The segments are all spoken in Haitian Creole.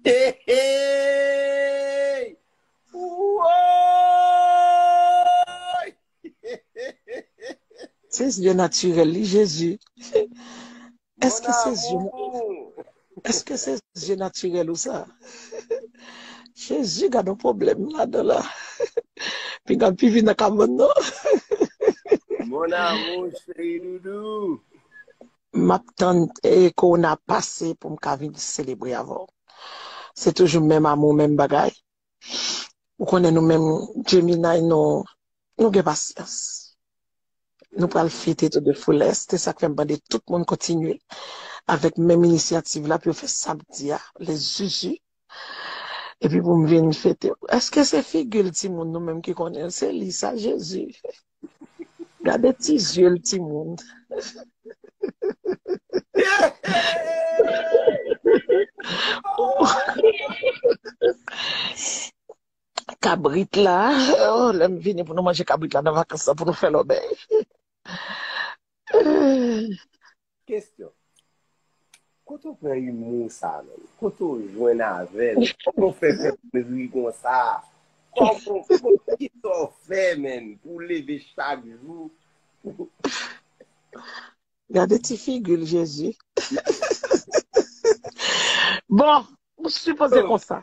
Heeeeeyy Wooyy Heeeeeeyy. Se zye natirèl li Jezi. Eske se zye natirèl ou sa? Jezi gadon pwoblèm ladan la. Pinga m pi vin nan kabann nan. Mon amour cheri doudou. Map tann corona pase poum ka vin selebre avèw. Se toujou menm amour menm bagay. Ou konnen nou menm Gemini nou nou gen pasyans. Nou pral fete tou de fullest se sak fèm mande tout moun kontinye avèk menm inisyativ la pou yo fè samdi a le zuzu. Epi pou m vin fete. Eske se figi l timoun nou menm ki konnen l se li sa jezi. Gade ti zye l timoun. Kabrit la lè m vini pou nou manje kabrit la nan vakans lan pou nou fè lòbèy. Kestyon. Kote ou pran imou sa menm? Kote ou jwenn avèl? Kòman ou fè fè moun ri konsa? Kòman kisa ou fè menm pou ou leve chak jou pou Gade ti figil Jezi. Bon, ou sipoze konsa.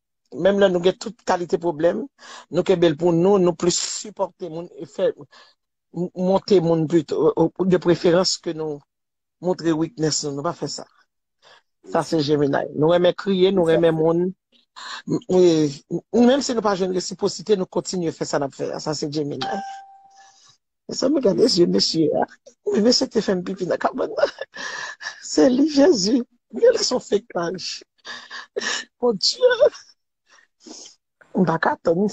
menm lè nou gen tout kalite pwoblèm, nou kenbe l pou nou, nou plis sipòte moun e fè monte moun pito, de preferans ke nou montre weakness nou, nou pa fè sa. Sa se Gemini. Nou renmen kriye, nou renmen moun, menm si nou pa jwenn resiposite, nou kontinye fè sa n ap fè a, sa se Gemini. Mezanmi gade zye mesye a. Wi mesye te fèm pipi nan kabann nan. Se li Jezi. Mwen lè son fake page. Mon Dieu. M pa ka tann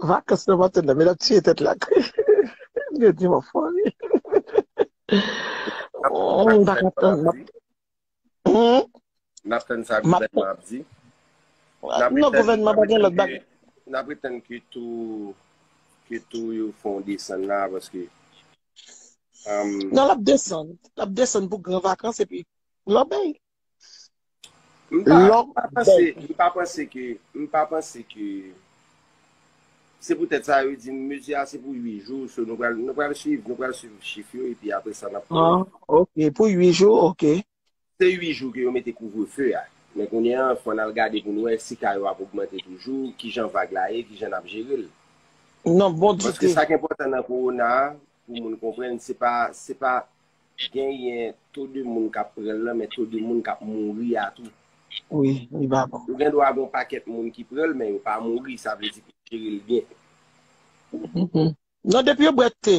vakans nan maten nan men l ap tiye tèt la kri. Yo di m an fòmi. M pa ka tann. Nap tann sa gouvènman ap di. Non gouvènman pa gen lòt bagay. Nap retann ke tou yo fon desann la paske. Non lap desann. Lap desann pou gran vakans epi lòbèy. Lòbèy. M pa panse ke Se poutèt sa yo di mezi a se pou 8 jou, so nou pral nou pral swiv, nou pral swiv chif yo epi apre sa nap konnen. An ok, pou 8 jou ok. Se 8 jou ke yo mete kouvrefe a, men kounye an fò nal gade pou nou wè si ka yo ap ogmante toujou, kijan vag la ye, kijan nap jerel. Non bon dite. Paske sak enpòtan nan kowona a pou moun konprann se pa se pa Genyen to de moun kap pranl lan men to de moun kap mouri a tou. Wi li pa bon. Ou gen dwa gon pakèt moun ki pranl men yo pa mouri sa vle di pou jerel byen. Non depi yo bwè thé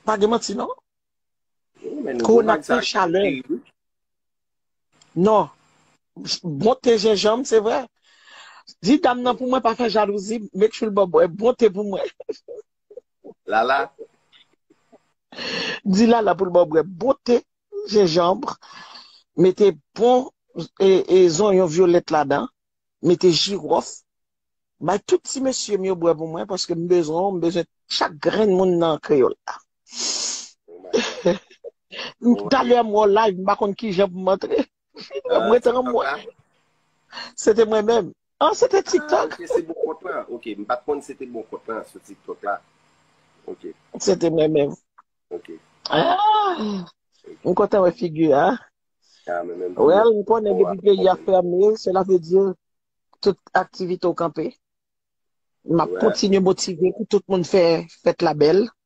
pa gen manti non. Corona plen chalè. Non bon thé jenjanm se vre. Di dam nan pou mwen pa fè jalouzi make sure l baw bwè bon thé pou mwen. Lala. Di lala pou l ba w bwè bon te jenjanbre, mete bon zonyon vyolèt ladan, mete jiròf. Bay tout ti mesye m yo bwè pou mwen paske m bezwen w, m bezwen chak grenn moun nan kreyòl la. Talè m wè w live m pa konn kijan pou m antre. Mwen mwen te ranm mwen. Se te mwen menm. An, se te TikTok. Ah, se bon kont la. Ok, m pat konn se te bon kont la sou TikTok la. Ok. Se te mwen menm. Ok. Ah, m kontan wè figi a. Ah, mwen menm. Well, m konnen depi peyi a ferme, cela veut dire tout aktivite ou kanpe. M ap kontinye motive pou tout moun fè fèt la bèl.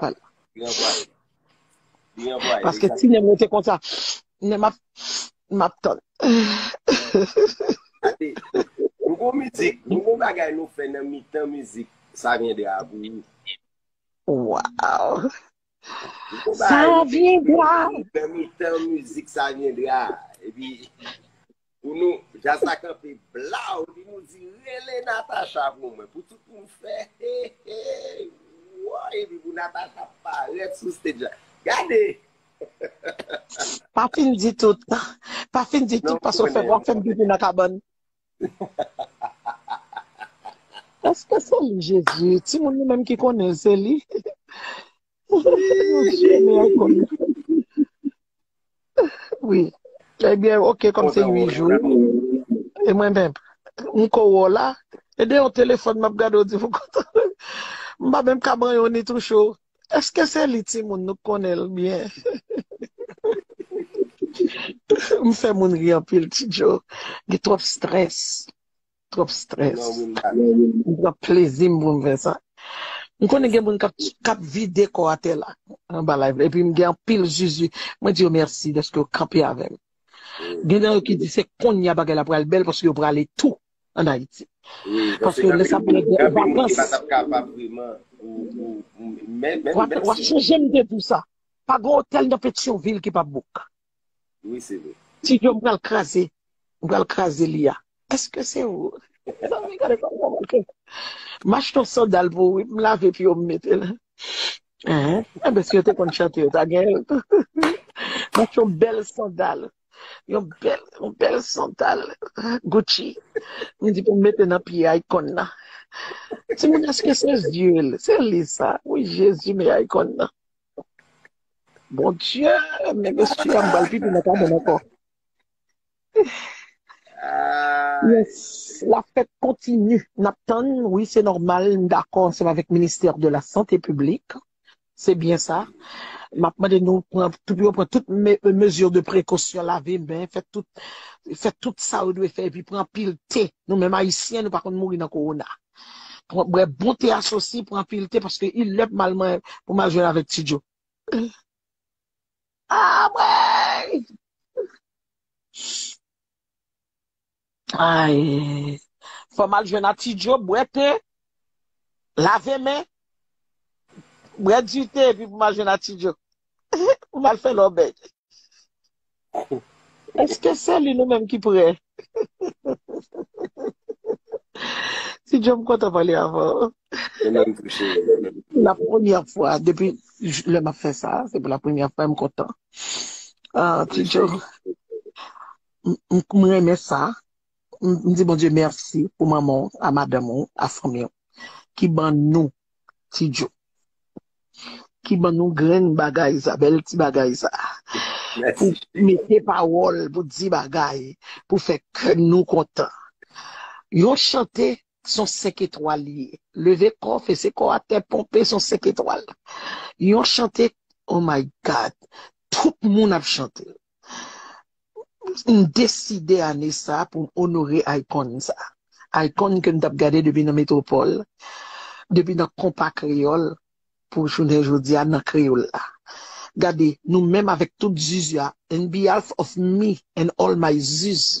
Pal. Li anvwaye. Li anvwaye. Paske ti nem rete konsa. Nem map map tann. Ate, nou gon mizik, nou gon bagay nou fè nan mitan mizik sa vyendra a pou ou. Waw. Sa vyendra. Nan mitan mizik sa vyendra a. Epi. Pou nou, jazz la kanpe blaw li nou di rele Natacha pou mwen pou tout moun fè hehey woy epi pou Natacha parèt sou stage la gade Pa fin di tout, pa fin di tout paske w fè wap fè m pipi nan kabann. Eske se li Jezi? Timoun nou menm ki konnen l se li? Wi, ebyen eh ok kom se 8 jou E mwen menm, m ko wè w la E de yon telefòn m ap gade w di m kontan M pa menm ka ban yon ni tou cho Eske se li timoun nou konnen l byen M fè moun ri anpil ti djo Gen twòp strès Trop stress. M pran plezim pou m fè sa. M konnen gen moun kap vide kò atè la anba live la epi m gen anpil zuzu mwen di yo mèsi dèske yo kanpe avèm. Gen nan yo ki di se konnya bagay la pral bèl paske yo prale tou an Ayiti. Paske lè sa pale de vakans. Wap chanje m te di w sa. Pa gen otèl nan Petyonvil ki pap book. Wi se vre. Ti Joe m pral kraze m pral kraze li a eske se ou mezanmi gade kòm mwen manke m achte yon sandal pou ou wi m lave pye w m mete l enben si yo te konn chante yo ta gen m achte yon bèl sandal yon bèl sandal Gucci m di pou m mete nan pye Akon nan timoun eske se yeux l se li sa wi jezi men Akon nan. Bon Dieu, men mesye ya m bal pipi nan kabann anko. Yes, la fête continue. Nap tann, wi se normal, m dakò ansanm avèk ministère de la santé publique. Se byen sa. Map mande nou pran pou yo pran tout mesure de prekosyon, lave men, fè tout fè tout sa yo dwe fè epi pran anpil te. Nou menm ayisyen nou pa konn mouri nan kowona. Pran bwè bon te asosi, pran anpil te paske il lè pou mal man pou mal jwenn avèk Ti Djo. Ah mwen! Ay! Fò mal jwenn a Ti Djo, bwè te, lave men, Brèt di te epi pou m al jwenn atidjo. Pou m al fè lòbèy. Eske se li nou menm ki pre? Tidjo m kontan pale avè w. Mwen menm tou cheri. La premyè fwa depi lè m ap fè sa. Se pou la premyè fwa e m kontan. Tidjo. M renmen sa. m di Bondye mèsi pou manman w a madanm ou a fanmi w ki ban nou ti djo ki ban nou grenn bagay sa bèl ti bagay sa pou mete pawòl pou di bagay pou fè kè nou kontan yon chante Son 5 etwal li ye. Leve kò, fese kò a tè, ponpe son 5 etwal. Yon chante oh my God tout moun ap chante l. M deside ane sa pou m onore Icon sa. Icon ke m t ap gade depi nan Metropole, depi nan Konpa Kreyòl pou jounen jodi a nan Kreyòl la. Gade nou menm avèk tout zuzu a and behalf of me and all my zuzu.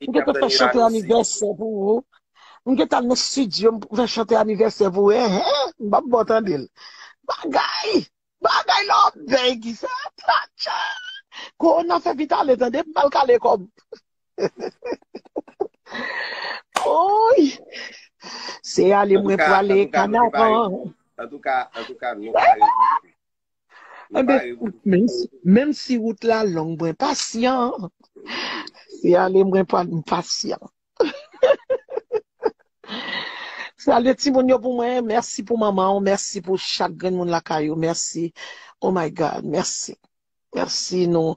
Mwen gen te fè chante anivèsè pou ou. Mwen gen te al nan studio pou fè chante anivèsè pou ou. He he, m pap ba w tande l. Bagay! Bagay lòbèy ki sa? Atcha! Kowona fè vit ale tande, m pral kale kò m. Woy! Se ale mwen prale kanavan. Antouka, antouka, antouka, nou pale. Menm si wout la long mwen pasyan. Se ale mwen pa m pasyan. Salye timoun yo pou mwen. Mèsi pou manman ou. Mèsi pou chak grenn moun lakay ou. Mèsi. Oh my God. Mèsi. Mèsi nou.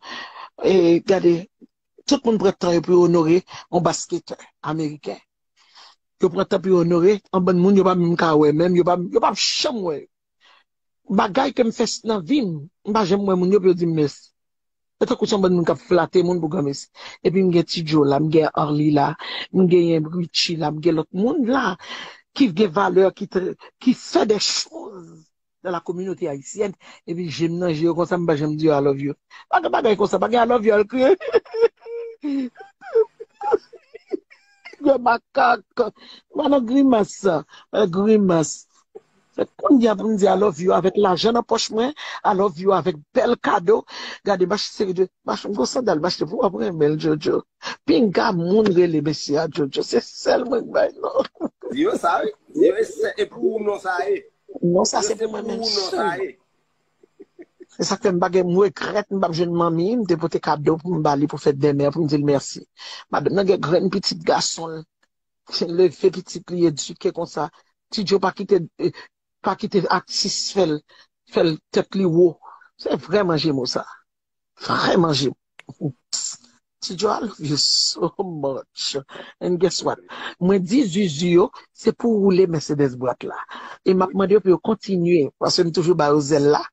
E gade. Tout moun pran tan yo pou onore yon basketè ameriken. Yo pran tan pou onore yon bann moun yo pa menm ka wè menm. Yo pa janm wè yo. Bagay ke m fè nan vi m, m pa janm wè moun yo pou yo di m mèsi. Se tankou se yon bann moun k ap flate moun pou granmesi. Epi m gen Ti Djo la, m gen Arly la, m genyen Richie la, m gen lòt moun la ki gen valè, ki fè dè choz nan la kominote ayisyèn, epi je m nan je yo konsa m pa janm di yo I love you. Pa gen bagay konsa, pa gen I love you al kriye. Granmakak. M pa nan grimas. Grimas. Se konnya pou m di I love you avèk lajan nan pòch mwen, I love you avèk bèl kado, gade m achte seri de, m achte m gon sandal m achte pou wap renmen l Jojo, pinga moun rele mesye a Jojo se sèl mwen k bay non. Di yo sa wi, di yo e sè e pou ou non sa ye. Non sa se pou mwen menm sèlman. Se sak fè m pa gen m regrèt m pap jwenn manmi m te pote kado pou m ba li pou fèt dèmè a pou m di l mèsi. Madanm nan gen grenn pitit gason l. Leve pitit li edike konsa. Ti Joe pa kite pa kite atis fèl fèl tèt li wo. Se vrè manje mo sa. Vrè manje mo. Ti Joe I love you so much and guess what mwen di zuzu yo se pou woule Mercedes bwat la e map mande yo pou yo kontinye paske m toujou ba yo zèl la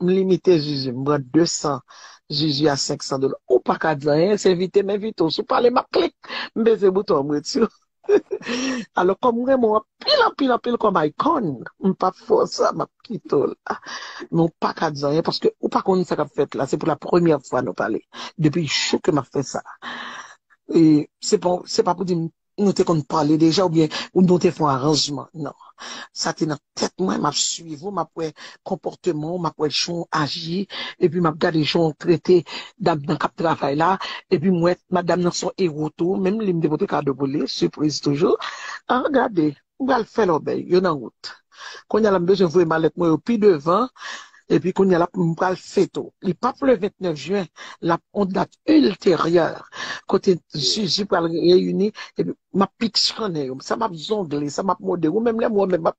m limite zuzu m pran 200 zuzu a 500 dola ou paka di anyen se envite m envite w si w pale map klik m peze bouton an m ret sou alò kòm m renmen w anpil anpil anpil kòm icon m pap fè w sa map kite w la men w paka di anyen paske ou pa konnen sa kap fèt la se pou la premyè fwa nou pale depi jou ke map fè sa e se pa pou di m Nou te konn pale deja oubyen nou te fon aranjman? Non. Sa te nan tèt mwen, m ap suiv ou, m ap wè konpòteman ou, m ap wè jan ou aji, epi m ap gade jan ou trete dam nan k ap travay la, epi m wè madam nan se yon ewo tou, menm li m te pote kado pou li, sipriz toujou. An gade! M pral fè lòbèy yo nan wout. Kounya la m bezwen voye malèt mwen yo pi devan epi kounya la m pral feto. Li pap le 29 juin, l ap on dat ilteryè kote Zuzu pral reyini epi m ap piksyonnen yo. Sa m ap zongle, sa m ap mode. Ou menm lè m wè w menm m ap.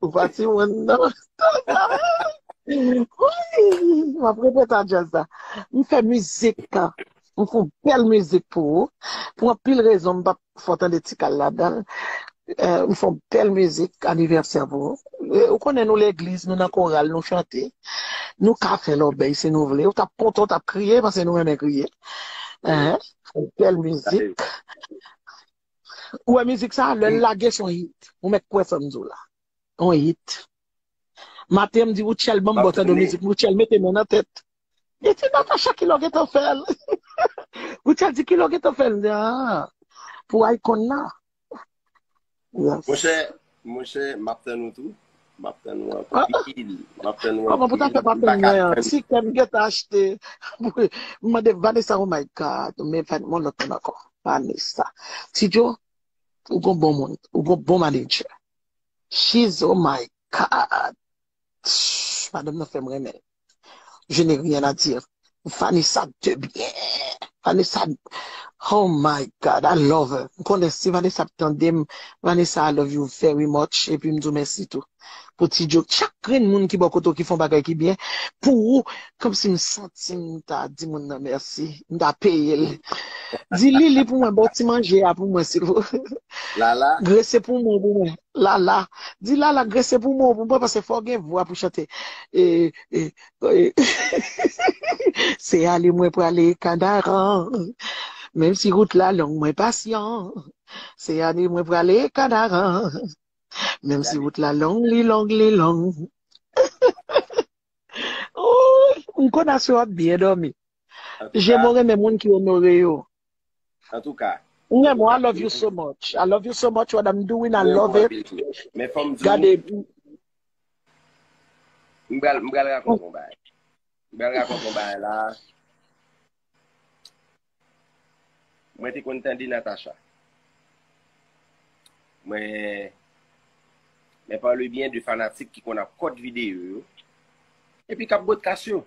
Ou pa ti moun nan. M ap repete a jazz la. M fè mizik ka. M fè yon bèl mizik pou ou. Pou anpil rezon m pa fè w tande tikal ladan l. M fè yon bèl mizik anivèsè pou ou. Ou konnen nou legliz, nou nan koral, nou chante. Nou ka fè lòbèy si nou vle. Ou t ap kontan, ou t ap kriye paske nou renmen kriye. Fè yon bèl mizik. Ou wè mizik sa, lè l lage son hit. Ou mèt kwè sa m di w la. On hit. Maten m di Rutshelle ban m bò tande mizik. Rutshelle mete men nan tèt. Li di Natacha kilè w gen tan fè l? Rutshelle di kilè w gen tan fè l? M di aa pou Icon nan. Monchè, Monchè map tann ou tou. Map tann ou anpil. Map tann ou anpil. Kòman pou ta fè pa tann mwen an. Ti kèm m gentan achte. M mande Vanessa oh my God. Men yon lòt moun ankò. Vanessa. Ti djo ou gon bon moun. Ou gon bon manager. She's oh my God. Madanm nan fèm renmen l. je n'ai rien à dire Vanessa de bien Vanessa oh my God I love her m konnen si Vanessa ap tande m Vanessa I love you very much epi m di w mèsi tou pou ti joke chak grenn moun ki bò kote w ki fè yon bagay ki byen pou ou kòmsi m santi m ta di moun nan mèsi m ta peye l di Lili pou mwen ba w ti manje a pou mwen silvouplè Lala grese pou mwen pou mwen. Lala, di lala grese pou mwen pou mwen pase fò gen vwa pou chante Se ale mwen prale kanaran Menm si rout la long mwen pasyan Se ale mwen prale kanaran Menm si rout la long li long li long Ou konn aswe wap byen domi. Jemo renmen moun ki onore yo. Antouka. Ou renmen w I love you so much. I love you so much what I'm doing I love it. Men fòm di w. Gade. M pral m pral rakonte yon bagay. M pral rakonte yon bagay la. Mwen te konn tande Natacha. Mwen mwen pale byen de fanatik ki konn ap kòt videyo yo. Epi kap bòt kas yo.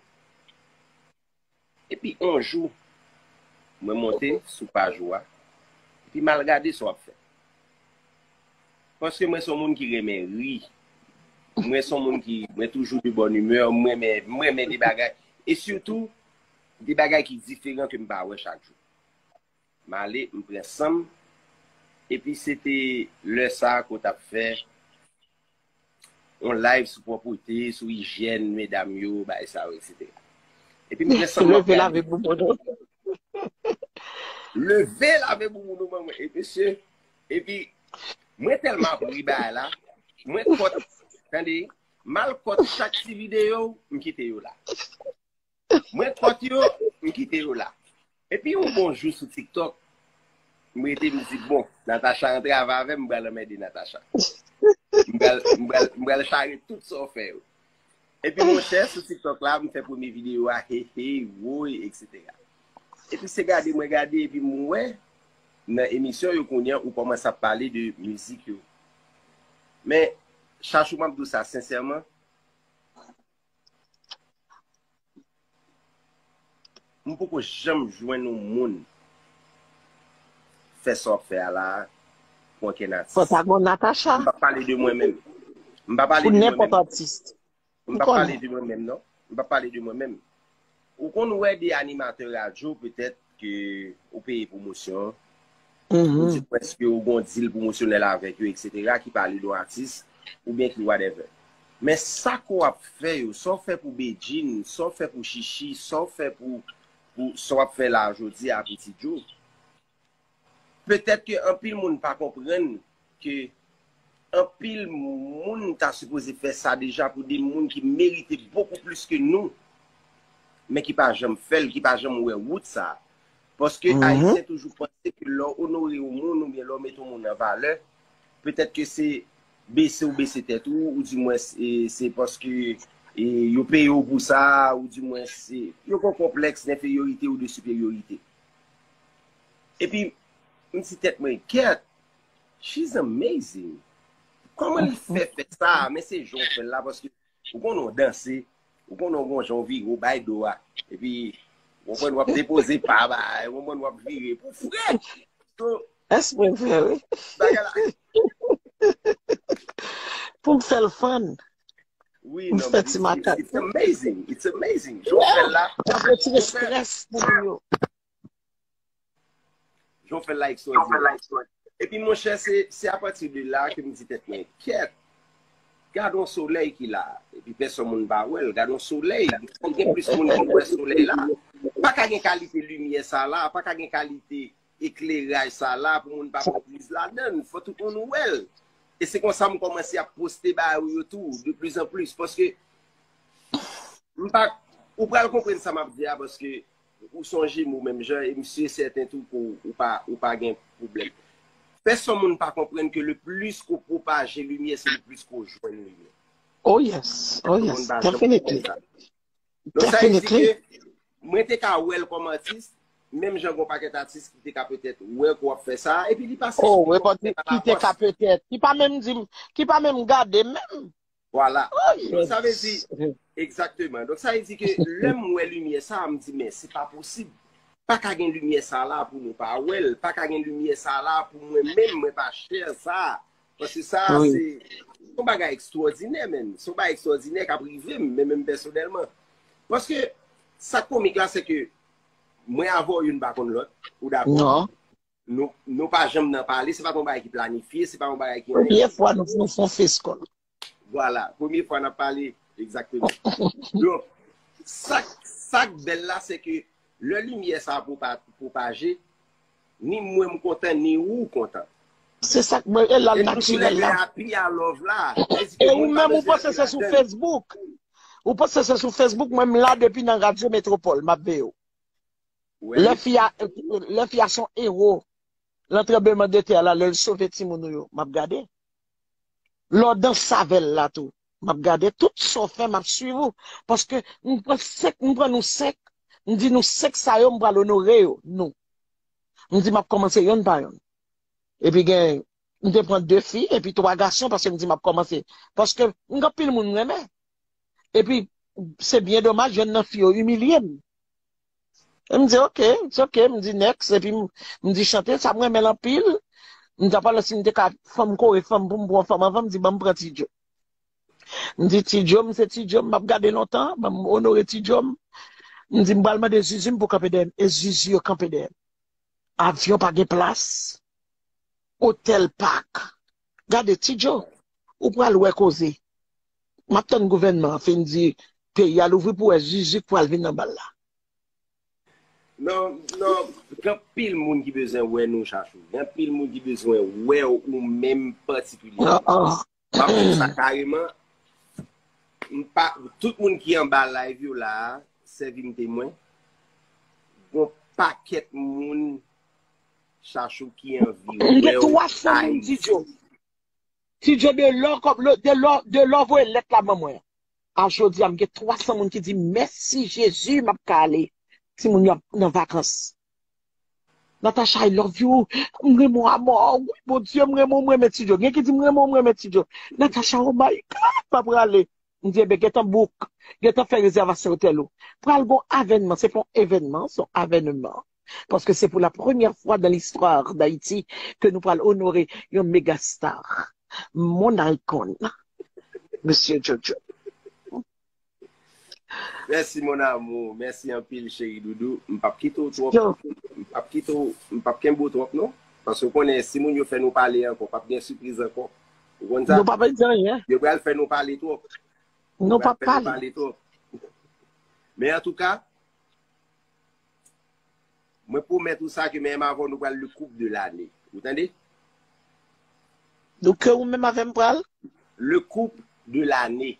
Epi on jou, mwen monte sou paj ou a, epi m al gade sa w ap fè. Paske mwen se yon moun ki renmen ri, mwen se yon moun ki, mwen toujou de bonne humeur, m renmen, m renmen de bagay, e sitou, de bagay ki diferan ke m pa wè chak jou. M ale, m pran san m, epi se te lè sa ke w t ap fè on live sou pwopote, sou ijyèn medam yo, bay sa yo etc. Epi m gen sanm map gade. Leve lave boubou nou. Leve lave boubou nou ban mwen. E mesye, epi mwen telman ap ri bay la, mwen kot, tande, mal kot chak ti video, m kite yo la. Mwen pot yo, m kite yo la. Epi yon bon jou sou TikTok, m rete m di bon, Natacha rantre ava avè m, m pral anmède Natacha. M pral, m pral, m pral chare tout sa w fè yo. Epi monchè, sou TikTok la, m fè premye videyo a, he hey, woy, eksetera. Epi se gade mwen gade epi m wè nan emisyon yo kounye a ou kòmanse ap pale de mizik yo. Men, Chachou m ap di w sa sensèman, M poko janm jwenn yon moun fè sa w ap fè a la a pwen kè Nati. Fò ta gon Natacha. M pa pale de mwen menm. M pa pale de mwen menm. Pou nenpòt atis. M pa pale de mwen menm non. M pa pale de mwen menm. Ou konn wè de animatè radyo petèt ke ou peye pwomosyon, ou di pwèske ou gon dil pwomosyonèl avèk yo eksetera ki pale don atis oubyen ki whatever. Men sa ke w ap fè yo, sa w fè pou Bedjine, sa w fè pou Shishi, sa w fè pou, pou sa w ap fè la a jodi a Pitidjo, Petèt ke anpil moun pa konprann ke anpil moun ta sipoze fè sa deja pou de moun ki merite bokou plis ke nou, men ki pa janm fè l, ki pa janm wè wout sa. Paske Ayisyen toujou panse ke lè w onore yon moun oubyen lè w mete yon moun an valè, petèt ke se bese ou bese tèt ou, ou di mwens se paske yo peye w pou sa, ou di mwens se, yo gen yon konplèks denferyorite ou de siperyorite. Epi m di tèt mwen gèt she's amazing kòman li fè fè sa men se jan w fè l la paske ou konnen w danse ou konnen w gon jan w vire w bay do a epi w konprann w ap depoze pa ba w konprann w ap vire pou fre so Èske mwen fè l? bagay la Pou m fè l fann Ou fè ti makak. It's amazing, it's amazing. Jou fè la. Ou fè ti stress pou moun yo. Jou fè la ekstra. Jou fè la ekstra. E pi mwen chè se, se apati de la ke mwen di tèt mwen, kèt, gadon solèy ki la, e pi pèson moun ba wèl, gadon solèy, gen plis moun ki wè solèy la, pa ka gen kalite limyè sa la, pa ka gen kalite solèy. Ekleraj sa la pou moun pa pran priz ladann, fò tout moun wèl. E se konsa m kòmanse ap poste ba ou yo tou, de plis an plis. Paske, m pa, ou pral konprann sa m ap di a, paske ou son jemo menm jan, e m si sèten tou ke ou pa, ou pa gen pwoblèm. Fè son moun pa konprann ke le plis ke w pwopaje limyè, se le plis ke w jwenn limyè. Oh yes, oh yes, definitely. Don sa vle di ke mwen te ka wèl kòm atis, menm jan gon pakèt atis ki te ka petèt wè ke w ap fè sa, epi li pase sou yo kòm lèt alapòs. Ki te ka petèt, ki pa menm di m, ki pa menm gade m menm. Vwala. Don sa vle di, egzakteman. Don sa vle di ke lè m wè limyè sa a, m di men, se pa posib. Pa ka gen limyè sa la pou nou pa wè l, pa ka gen limyè sa la pou mwen menm mwen pa chè sa a. Paske sa a se, se yon bagay ekstwòdinè menm. Se yon bagay ekstwòdinè k ap rive m, men menm pèsonèlman. Paske, sa k komik la se ke, mwen avè w youn pa konn lòt, ou dakò? Non. Nou, nou pa janm nan pale, se pa t yon bagay ki planifye, se pa yon bagay ki. Premye fwa nou fon, fon fes kòl. Vwala, premye fwa n ap pale, egzakteman. Donk, sa k, sa k bèl la se ke, lè limyè sa a pwopaje, Ni mwen m kontan ni ou kontan. Se sak mwen e lal natirel la. E ou menm ou panse se sou Facebook. Ou panse se sou Facebook mwen m la depi nan radio metropole map veyew. Le fi a le fi a son ero lan tranbleman de tè la lel sove timoun ou yo map gade. Lè w danse avel la tou. Map gade tout sa w fè map swiv ou paske m pran 5 m pran nou 5 m di nou 5 sa yo m pral onore yo nou m di map kòmanse yonn pa yonn epi gen m te pran 2 fi epi 3 gason paske m di map kòmanse paske m gen anpil moun m renmen epi se byen domaj yonn nan fi yo imilye m. E m di ok, it's ok, m di next, epi m di chante sa m renmen l anpil, m di apa lè si m te ka fò m kore fò m pou m pran yon fanm anvan, m di ban m pran Ti Djo. M di Ti Djo m se Ti Djo m ap gade lontan, ban m onore Ti Djo m. M di m pral mande Zuzu m pou kanpe dèyè m, e Zuzu yo kanpe dèyè m. Avyon pa gen plas, otèl pak, gade Ti Djo, ou pral wè koze. Map tann gouvènman an fin di peyi a louvri pou wè zuzu k pral vin anba l la. Gen anpil moun ki bezwen wè nou chachou. Gen anpil moun ki bezwen wè w ou menm patikilyèman. Map di w sa kareman, tout moun ki anba live yo la a, sèvi m temwen, gon pakèt moun chachou ki anvi wè w Ayiti. Ti Djo de lò kòb lò de lò de lò voye lèt la ban mwen a jodi a m gen 300 moun ki di m mèsi Jezi map ka ale timoun yo ap nan vakans Natacha I love you m renmen w amò wi Bondye m renmen w m renmen Ti Djo gen ki di m renmen w m renmen Ti Djo Natacha oh my God map rale m di enben gentan book gentan fè rezèvasyon otèl ou pral gon avènman se pa yon evènman se yon avèneman. paske se pou la premyè fwa dan listwa Dayiti ke nou pral onore yon megastar, mon icon, Mesye JoJo. Mèsi mon amour, mèsi anpil cheri doudou, m pap kite w twòp, m pap kite w, m pap kenbe w twòp non, paske w konnen si moun yo fè nou pale ankò pap gen sipriz ankò, ou konn sa, yo pral fè nou pale twòp, yo pral fè nou pale twòp. Men antouka. Mwen pwomèt ou sa ke menm avè w nou pral le koup de lane. Ou tande? Nou ke ou menm avè m pral? Le koup de lane.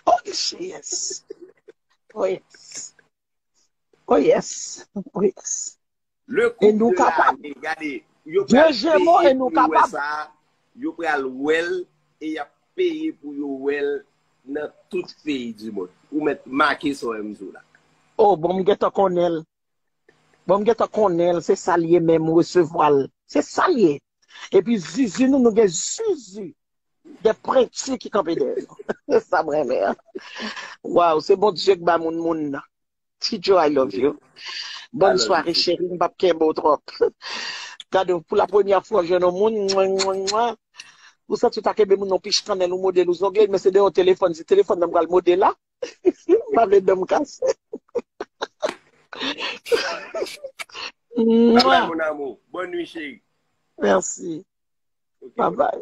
Oh yes! Oh yes! Oh yes! Oh yes! Le koup de lane gade yo pral peye pou yo wè sa yo pral wèl e yap peye pou yo wèl nan tout peyi di mond ou mèt make sa wèm di w la. Oh bon m gentan konnenl bon m gentan konnenl se sal ye men m resevwal se sal ye epi zuzu nou nou gen zuzu de prentu ki kanpe dèyè nou se sam renmen an waw se Bondye k ba moun moun nan. Ti djo I love you. Bonne soirée chérie m pap kenbe w trop. Gade w pou la premyè fwa w jwenn yon moun mouinmouinmouin ou santi w ta kenbe moun nan w pich kannèl ou mode l ou zongle l men se de yon telefòn se telefòn nan m pral mode la m pa vle dan m kase. Bye bye mon amour bonne nuit chérie. Merci bye bye.